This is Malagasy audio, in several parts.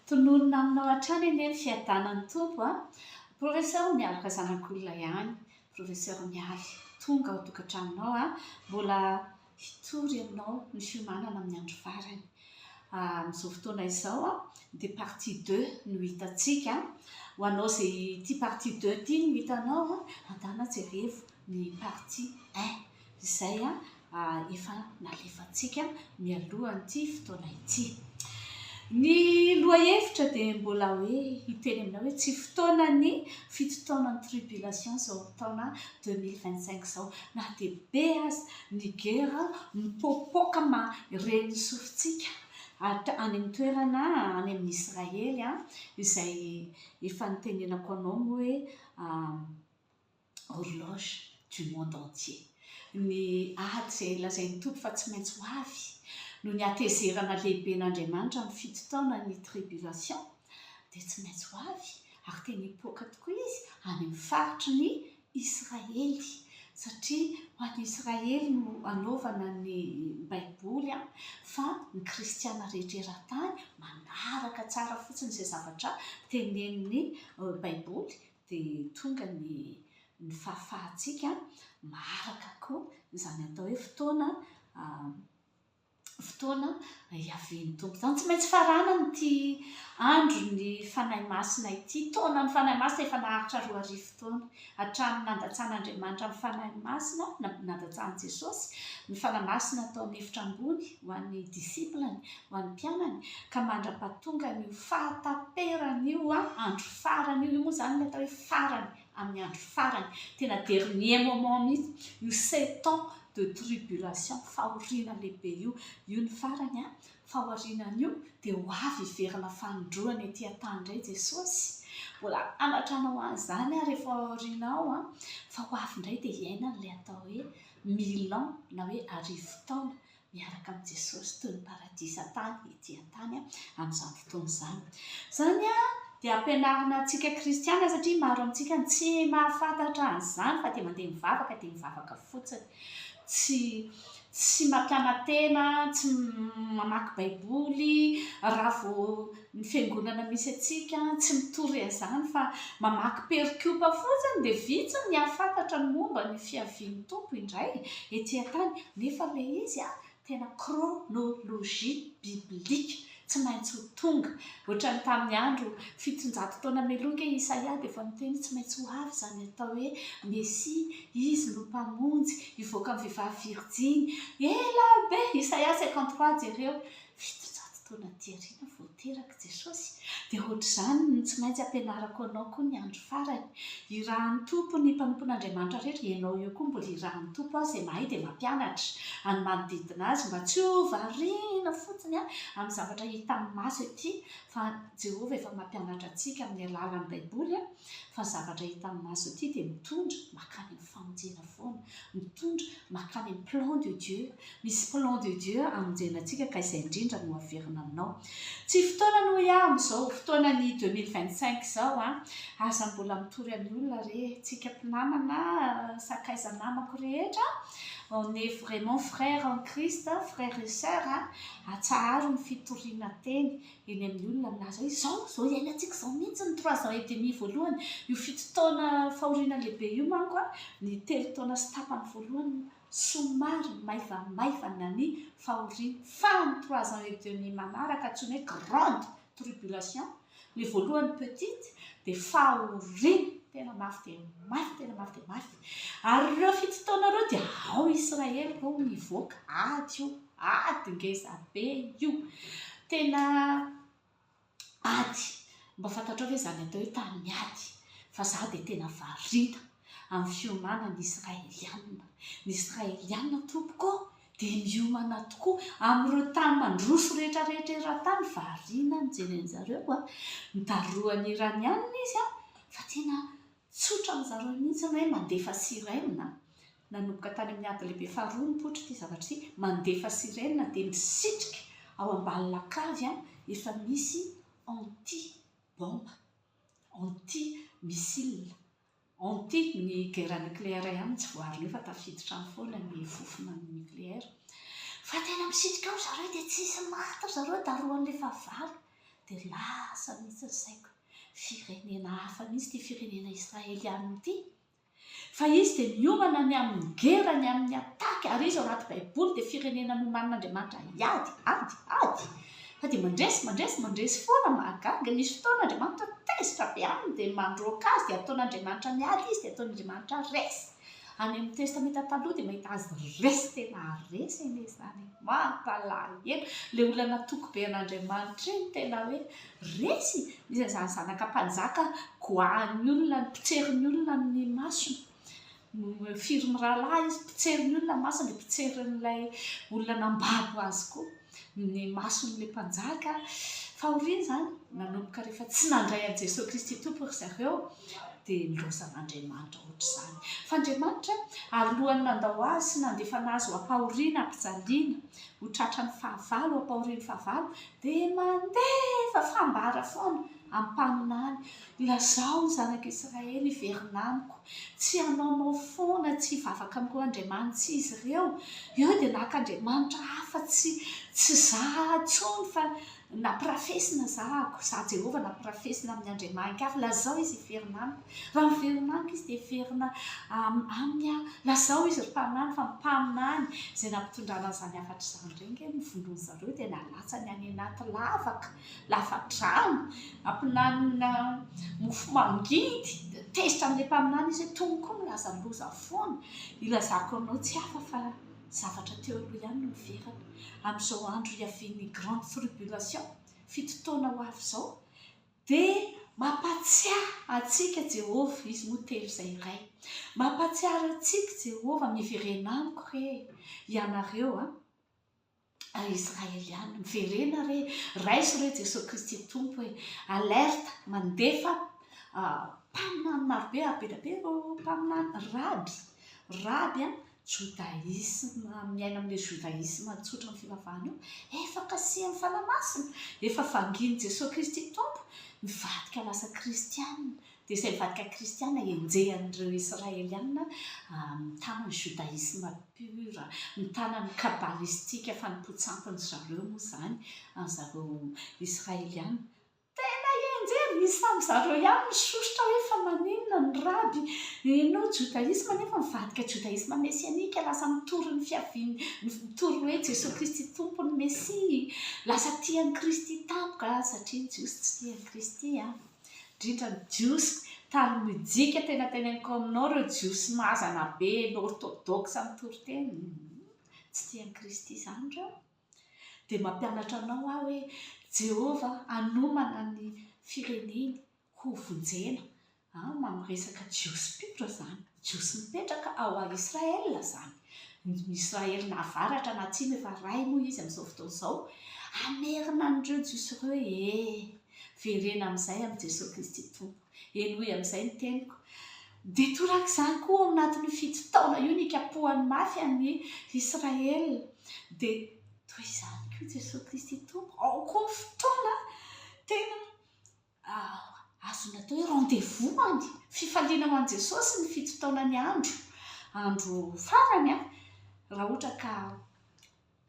Tononina aminao hatrany anie ny fiadanan'ny Tompo a! Professeur miaraka zanak'olona ihany, Professeur Mialy tonga ao an-tokantranonao a! Mbola hitory ianao ny fiomanana amin'ny andro farany. Amin'izao fotoana izao dia partie deux no hitantsika. Ho anao izay tia partie deux ity no hitanao, andana jereo ny partie un. izay efa nalefantsika mialohan'ity fotoana ity. Ny lohahevitra dia mbola hoe hiteny aminao hoe tsy fotoanan'ny fito taonan'ny tribulation izao taona 2025 izao. Na dia be aza ny gera mipoapoaka mahare ny sofintsika any amin'ny toerana any amin'ny Israely izay efa nitenenako anao hoe horloge du monde entier. Ny ady izay lazain'ny Tompo fa tsy maintsy ho avy, noho ny hatezerana lehiben'Andriamanitra amin'ny fito taona ny tribulation, dia tsy maintsy ho avy, ary tena hipoaka tokoa izy any amin'ny faritry ny Israely, satria ho an'ny Israely no anaovana ny Baiboly, fa ny kristiana rehetra eran-tany manaraka tsara fotsiny izay zavatra tenenin'ny Baiboly, dia tonga ny ny fahafahantsika maharaka koa izany atao hoe fotoana fotoana hiavian'ny Tompo izany. Tsy maintsy faranana ity andron'ny Fanahy Masina ity, taonan'ny Fanahy Masina efa naharitra roa arivo taona, hatramin'ny nandatsan'Andriamanitra ny Fanahy Masina, nandatsahan'i Jesosy ny Fanahy Masina tao amin'ny efitra ambony ho an'ny disciple-ny, ho an'ny mpianany ka mandra-pahatongan'io fahataperan'io andro farany io, io moa izany ilay atao hoe farany amin'ny andro farany, tena dernier moment mihitsy, io sept ans de tribulation, fahoriana lehibe io, io ny farany, fa aorianan'io dia ho avy hiverina fanindroany ety an-tany indray i Jesosy, mbola hanatranao an'izany aho rehefa ao aorianao an, fa ho avy indray dia hiainan'ilay atao hoe mille ans na hoe arivo taona, miaraka amin'i Jesosy toy ny paradisa tany ety an-tany amin'izany fotoana izany. Izany dia ampianarina antsika kristiana satria maro amintsika no tsy mahafantatra an'izany fa dia mandeha mivavaka dia mivavaka fotsiny. Tsy tsy mampiana-tena, tsy mamaky baiboly, raha vao Ny fiangonana misy antsika tsy mitory an'izany fa mamaky perikopa fotsiny dia vitsy ny hahafantatra ny momba ny fiavian'ny Tompo indray ety an-tany nefa ilay izy tena chronologie biblique tsy maintsy ho tonga ohatran'ny tamin'ny andro fitonjato taona mialoha nge Isaia dia efa miteny tsy maintsy ho avy izany atao hoe Mesia izy no mpamonjy hivoaka amin'ny vehivavy virjiny ela be Isaia cinquante trois jereo Fitonjato taona aty aoriana vao teraka i Jesosy, dia hoatr'izany no tsy maintsy hampianarako anao koa ny andro farany. Irahan'ny Tompo ny mpanompon'Andriamanitra rehetra, ianao eo koa mbola irahan'ny Tompo aho izay mahay dia mampianatra an'ny manodidina azy mba tsy ho variana fotsiny amin'ny zavatra hita amin'ny maso ety fa Jehovah efa mampianatra antsika amin'ny alalan'ny Baiboly fa ny zavatra hita amin'ny maso ety dia mitondra mankany amin'ny famonjena foana mitondra makany amin'ny plan de Dieu, misy plan de Dieu hamonjena antsika ka izay indrindra no haverina aminao, tsy fotoanany hoy aho amin'izao fotoanany deux mille vingt cinq izao an, aza mbola mitory amin'ny olona re tsika mpinamana sakaiza namako rehetra on est vraiment frère en Christ frère et sœur an, atsaharo ny fitoriana teny eny amin'ny olona milaza hoe izao, izao iainantsika izao mihitsy ny trois ans et demi voalohany, io fito taona fahoriana lehibe io manko an, ny telo taona sy tapany voalohany no somary maivamaivana ny fahoriana, fa ny trois ans et demi manaraka antsoina hoe grande tribulation, ilay voalohany petite, dia fahoriana tena mafy dia mafy, tena mafy dia mafy. Ary ireo fito taona ireo dia ao Israely ireo mivoaka, ady io. Ady ngeza be io. Tena ady. Mba fantatrao ve izany atao hoe tamin'ny ady? Fa izaho dia tena variana amin'ny fiomanan'ny Israelianina. Ny Israelianina tompoko ô, dia miomana tokoa. Amin'ireo tany mandroso rehetrarehetra eran-tany, variana mijery an-dry zareo. Notarohan'ny Iranianina izy, fa tena tsotra amin'izareo mihitsy ny hoe mandefa sirène. Nanomboka tany amin'ny ady lehibe faharoa nipoitra ity zavatra ity, mandefa sirene dia misitrika ao ambany lakavy efa misy anti bombe, anti missile, anti ny guerre nucléaire ihany no tsy voaarina eo fa tafiditra any foana ny fofona nucléaire, fa tena misitrika ao ry zareo dia tsisy maty ry zareo darohan'ilay fahavalo dia lasa mihintsy ny saiko, firenena hafa mihintsy ity firenena israeliana ity. Fa izy dia miomana ny amin'ny gera, ny amin'ny ataky, ary izy ao anaty Baiboly dia firenena nomanin'Andriamanitra hiady, ady, ady, fa dia mandresy, mandresy, mandresy foana, mahagaga, misy fotoana Andriamanitra tezitra be aminy dia mandroaka azy dia ataon'Andriamanitra miady izy dia ataon'Andriamanitra resy, any amin'ny Testamenta Taloha dia mahita azy resy tena resy anie izany e! mampalahelo, ilay olona natoky be an'Andriamanitra iny tena hoe Resy! Iza izany zanaka mpanjaka goahan'ny olona no mpitsery ny olona amin'ny masony? Firy mirahalahy izy? Mpitsery ny olona ny masony dia mpitsery an'ilay olona nambabo azy koa ny mason'ilay mpanjaka. Fahoriana izany, nanomboka rehefa tsy nandray an'i Jesoa Kristy Tompo ry zareo dia nilaozana an'Andriamanitra ohatr'izany. Fa Andriamanitra alohan'ny nandao azy sy nandefana azy ho am-pahoriana am-pijaliana, ho tratran'ny fahavalo ho am-pahorian'ny fahavalo, Dia mandefa fambara foana am-paminany, Lazao ny zanak'i Israely hiverina amiko, tsy hanaonao foana, tsy hivavaka amin'ireo andriamanitry izy ireo. Eo dia naka andriamanitra hafa tsy tsy za intsony, fa nampirafesina za, za Jehovah nampirafesina amin'ny andriamain-kafa. Lazao izy hiverina amiko. Raha miverina amiko izy, dia hiverina aminy aho. Lazao izy, ry mpaminany, fa mpaminany izay nampitondrana an'izany hafatra izany. Bengany ny volony zareo dia nalatsany any anaty lavaka lava-drano ampilanina mofo mangidy dia tezitra amin'ilay mpaminany izy hoe tony koa milaza ny loza foana ilazako anao tsy hafa fa zavatra teo aloha ihany no niverina amin'izao andro hiavian'ny grande tribulation fito taona ho avy izao Dia mampatsiahy antsika Jehovah, Izy moa telo izay iray. Mampatsiahy antsika Jehovah, Miverena amiko re, ianareo a Israeliana, miverena re, raiso re Jesoa Kristy Tompo e, alerte, mandefa mpaminany marobe, be dia be ireo mpaminany, raby, raby a, Jodaisma, miaina amin'io jodaisma tsotra ny fivavahana io, efa kasihin'ny Fanahy Masina, efa vangin'i Jesoa Kristy Tompo, mivadika lasa kristiana, dia izay mivadika kristiana enjehan'ireo Israeliana mitana ny jodaisma pure, mitana ny kabalistika fanompoan-tsampin-dry zareo moa izany an zareo Israeliana, Tena enjehy misy tam zareo ihany misosotra hoe fa maninona ny raby heno jodaisma nefa mivadika jodaisma mesianika lasa mitory ny fiaviany mitory hoe jesoa kristy tompo ny mesia lasa tia an'i kristy tampoka satria ny jiosy tsy tia an'i kristy an indrindra ny jiosy tany mojika tena teny an'i kaominao ireo jiosy mazana be ny orthodox mitory teny tsy tia an'i kristy izany ireo Dia mampianatra anao aho hoe Jehovah hanomana ny fireneny hovonjena. Amin'ny resaka Jiosy mpitro izany, Jiosy mipetraka ao a Israël izany. Ny Israël na avaratra na atsimo efa iray moa izy amin'izao fotoana izao. Hamerina an'ireo Jiosy ireo ee. Verena amin'izay amin'i Jesoa Kristy Tompo. Henoy amin'izay ny teniko. Dia torak'izany koa, ao anatin'io fito taona io, nikapohany mafy an'i Israel. Dia toy izany koa i Jesoa Kristy Tompo. Ao koa ny fotoana tena azony atao hoe rendez-vous any. Fifaliana ho an'i Jesosy ny fito taona ny andro, andro farany, raha ohatra ka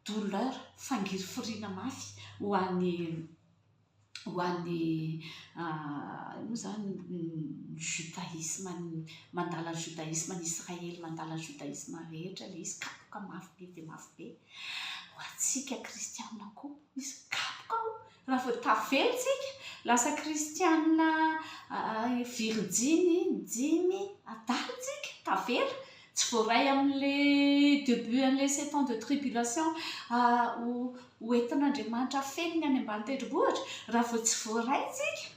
douleur, fangirifiriana mafy ho an'ny ho an'ny inona moa izany ny judaisme mandala ny judaisme any Israely mandala ny judaisme rehetra ilay izy kapoka mafy be dia mafy be ho antsika kristianina koa misy kapoka ao raha vao tavela isika lasa kristianina virijiny dimy adala isika tavela Tsy voaray amin'ilay debut an'ilay sept ans de tribulation ho entin'Andriamanitra afenina any ambany tendrombohitra? Raha vao tsy voaray isika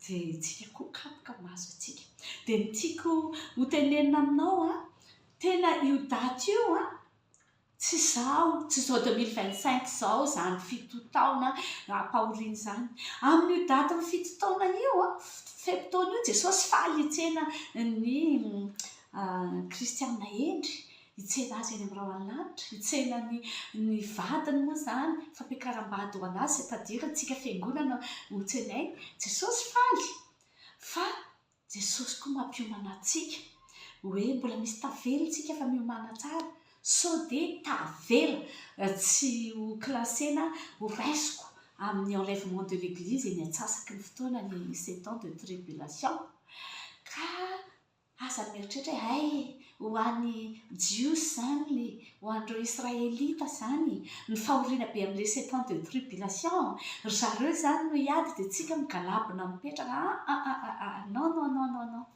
dia isika koa kapoka maso antsika. Dia ny tiako hotenenina aminao an, tena io daty io an, Tsy izao, tsy zao 2025 zao izany fito taona ampahoriana izany. Amin'io datin'ny fito taona io, fe-potoana io, Jesosy faly hitsena ny Kristiana hendry, hitsena azy eny amin'ny rahon'ny lanitra, hitsena ny ny vadiny moa izany, fampiakaram-bady ho an'azy izay tadirintsika fiangonana ho tsenainy. Jesosy faly fa Jesosy koa mampiomana antsika hoe mbola misy tavela tsika fa miomana tsara sao de tavela tsy ho classena ho raisiko amin'ny enlèvement de l'église eny antsasaky ny fotoana ny sept ans de tribulation ka aza mieritreritra hoe hay Ho an'ny Jiosy izany, ho an'ireo Israelita izany, ny fahoriana be amin'ilay sept-ans de tribulation, ry zareo izany no hiady dia tsika migalabona mipetraka aa non non non non non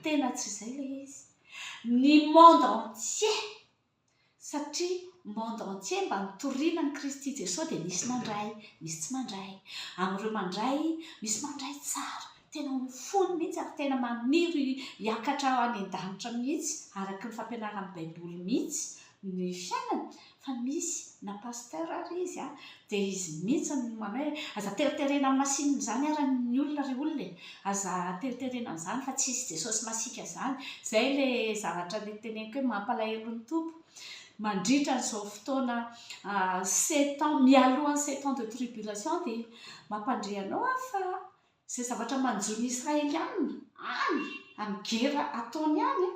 tena tsy izay ilay izy. Ny monde entier satria monde entier mba mitoriana an'i Kristy Jesoa dia misy mandray, misy tsy mandray, amin'ireo mandray misy mandray tsara, tena ho fony mihitsy ary tena maniry hiakatra any an-danitra mihitsy araka ny fampianaran'ny baiboly mihitsy ny fiainany, fa misy na pasteur ary izy an, Dia izy mihitsy no manao hoe, aza teriterena amin'ny masinina izany ary ny olona ry olona e! Aza teriterena an'izany fa tsy hisy Jesosy masiaka izany! Izay ilay zavatra niteneniko hoe mampalahelo ny Tompo, mandritra an'izao fotoana sept ans, mialoha ny sept ans de tribulation dia mampandre anao aho fa Izay zavatra manjo ny Israeliana any amin'ny gera ataony any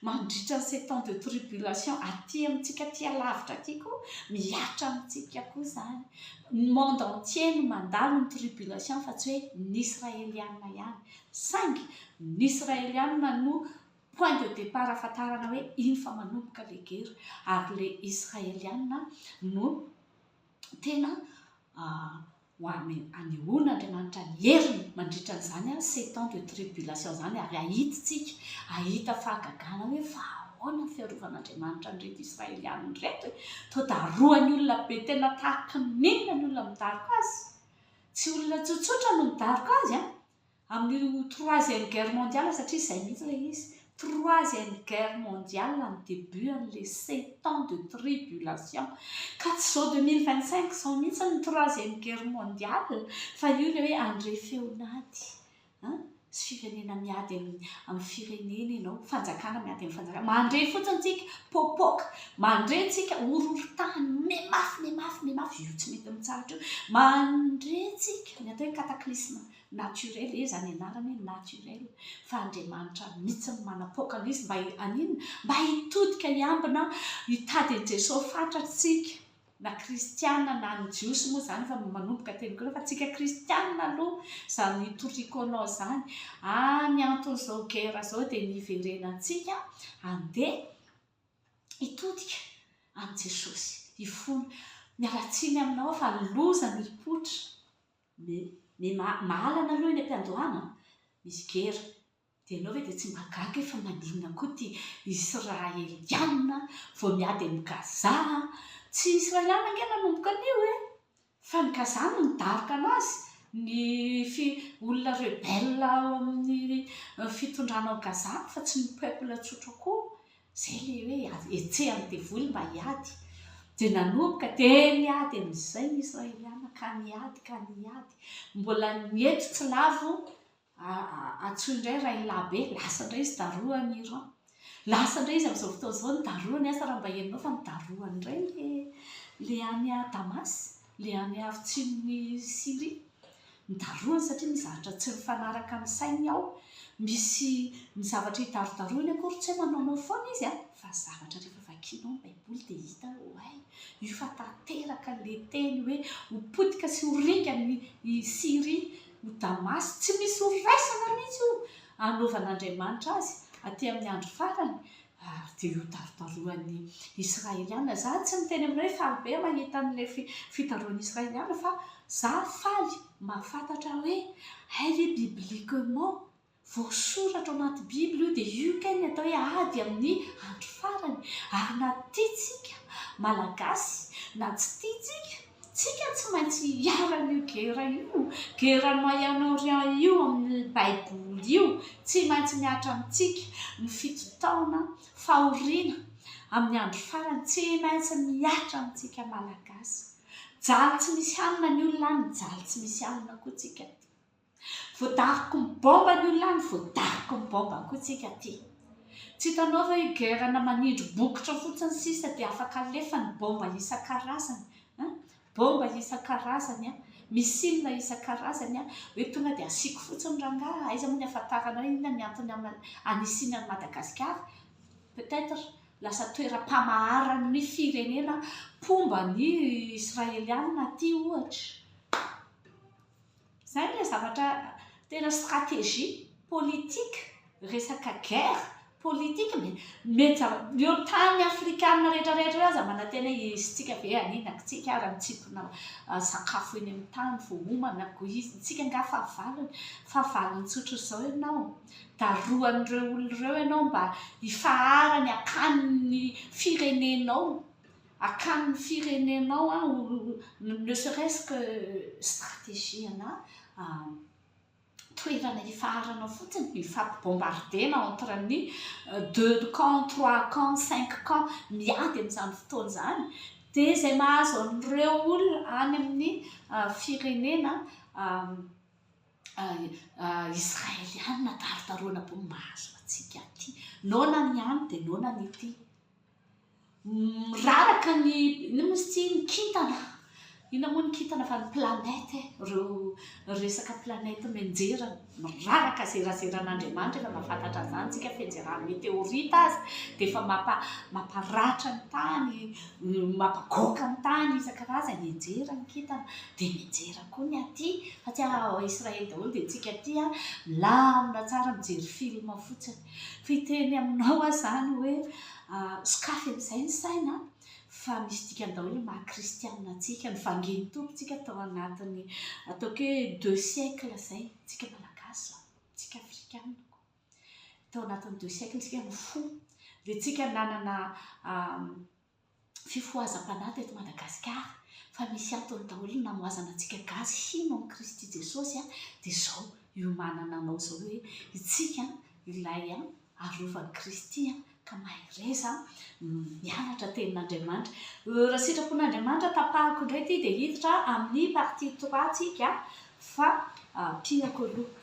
mandritra ny sept ans de tribulation aty amintsika aty alavitra aty koa mihatra amintsika koa izany. Ny monde entier no mandalo ny tribulation fa tsy hoe ny Israeliana ihany. Saingy ny Israeliana no point de départ ahafantarana hoe iny fa manomboka ilay gera ary ilay Israeliana no tena Ho an'ny anehoana Andriamanitra ny heriny mandritra an'izany sept ans de tribulation izany ary ahitntsika, ahita fahagagana hoe fa ahoana ny fiarovan'Andriamanitra an'ireto Israelianina ireto e! Toa darohany olona be tena tahaka ny milina ny olona midaroka azy. Tsy olona tsotsotra no midaroka azy an! amin'io troisième guerre mondiale satria izay mihitsy ilay izy, troisième guerre mondiale no début an'ilay sept ans de tribulation ka tsy izao deux mille vingt cinq izao mihitsy ny troisième guerre mondiale fa io ilay hoe handre feon'ady an, sy firenena miady amin'ny firenena ianao, fanjakana miady amin'ny fanjakana, mandre fotsiny tsika, popoka. Mandre antsika horohorontany mimafy mimafy mimafy io tsy mety mitsahatra io. Mandre antsika ny atao hoe cataclysme naturel, iza izany anarany hoe naturel fa Andriamanitra mihitsy no manapoaka an'izy mba haninona? Mba hitodika hiambina hitady an'i Jesoa Fatra antsika na kristiana na ny jiosy moa izany efa manomboka teny koa fa antsika kristiana aloha izany hitoriako anao izany ary ny anton'izao guerre izao dia ny hiverenantsika handeha hitodika amin'i Jesosy, hifona. Miala tsiny aminao aho fa loza ny mipoitra. Ny mahalana aloha eny am-piandohana, misy gera. Dia ianao ve dia tsy mba gaga e? Fa maninona koa ity Israeliana vao miady amin'i Gaza? Tsy Israeliana ange nanomboka an'io e! Fa ny Gaza no nidaroka anazy, ny fi, olona rebelle ao amin'ny fitondrana ao Gaza fa tsy ny peuple tsotra akory, zay le hoe hetsehan'ny devoly mba hiady, dia nanomboka dia niady amin'izay ny Israeliana ka niady ka niady, mbola ny eto tsy lavo Antsoy indray Rahilahy be, lasa indray izy daroha any Iran. Lasa indray izy amin'izao fotoana izao nidaroha ny asa raha mba henonao fa nidaroha indray ilay any Damas, ilay any afotsinin'i Syrie. Nidarohany satria misy zavatra tsy mifanaraka amin'ny sainy ao. Misy ny zavatra hidarodarohiny akory tsy hoe manaonao foana izy an, fa zavatra rehefa vakianao ny Baiboly dia hita hoe oay, io fa tanteraka ilay teny hoe ho potika sy ho ringana i Syria. ho Damasy, tsy misy ho raisana mihitsy io hanaovan'Andriamanitra azy aty amin'ny andro farany, ary dia ho darodaroan'ny Israeliana. Izaho tsy miteny aminao hoe faly be aho mahita an'ilay fidaroan'ny Israeliana, fa izaho faly mahafantatra hoe elle est bibliquement Voasoratra ao anaty Bible io dia io kay ny atao hoe ady amin'ny andro farany ary na tiantsika Malagasy na tsy tiantsika tsika tsy maintsy hiharan'io gera io, gera moyen orient io amin'ny baiboly io tsy maintsy mihatra amintsika ny fito taona fahoriana amin'ny andro farany tsy maintsy mihatra amintsika Malagasy jaly tsy misy hanina ny olona any jaly tsy misy hanina koa tsika aty. Voadaroky ny bomba ny olona any, voadaroky ny bomba koa tsika aty. Tsy hitanao ve io guerre na manindry bokotra fotsiny sisa dia afaka alefa ny bomba isan-karazany a! Bomba isan-karazany a! Missile isan-karazany a! Hoe tonga dia asiako fotsiny rangaha, aiza moa ny ahafantarana hoe inona ny antony anisiany an'i Madagasikara? Peut etre lasa toeram-pamaharan'ny firenena mpomba ny Israeliana aty ohatra. Izay ilay zavatra tena stratégie politique, resaka guerre politique mety mety zava-, ny eo tany afrikana rehetra rehetra eo aza manantena hoe isika ve hanina antsika ary hantsipona sakafo eny amin'ny tany vao homana ko izy, isika angaha fahavalony? fahavalony tsotra izao ianao? darohan'ireo olona ireo ianao mba hifaharany hakany ny firenenao? Akan'ny firenenao an ou ne serait-ce que stratégie ana toerana hifaharanao fotsiny, hifampibombarder-na entre ny deux camps, trois camps, cinq camps miady amin'izany fotoana izany dia izay mahazo an'ireo olona any amin'ny firenena Israeliana darodaroana bomba hazo antsika aty. Noana ny any dia noana ny ety. Miraraka ny inona moa izy ity? Ny kintana. Inona moa ny kintana fa ny planète e! Ireo resaka planète mianjera miraraka zerazeran'Andriamanitra efa mahafantatra an'izany isika fianjeran'ny meteorita aza dia efa mamparatra ny tany, mampagoaka ny tany isan-karazany hianjera ny kintana dia mianjera koa ny aty fa tsy ao Israely daholo dia isika aty milamina tsara mijery film fotsiny. Fiteny aminao aho izany hoe sokafy amin'izay ny saina fa misy dikany daholo ny maha kristianina antsika, ny vangin'ny Tompontsika tao anatin'ny ataoko hoe deux siècles izay, tsika Malagasy izao, tsika Afrikana koa, tao anatin'ny deux siècles tsika nifoha, dia tsika nanana fifohazam-panahy teto Madagasikara fa misy antony daholo ny namohazana antsika gasy hino an'i Kristy Jesosy dia izao hiomanana anao izao hoe isika ilay arovan'i Kristy ka mahereza mianatra tenin'Andriamanitra raha sitrapon'Andriamanitra tapahako indray ity dia hiditra amin'ny partie trois tsika fa piako aloha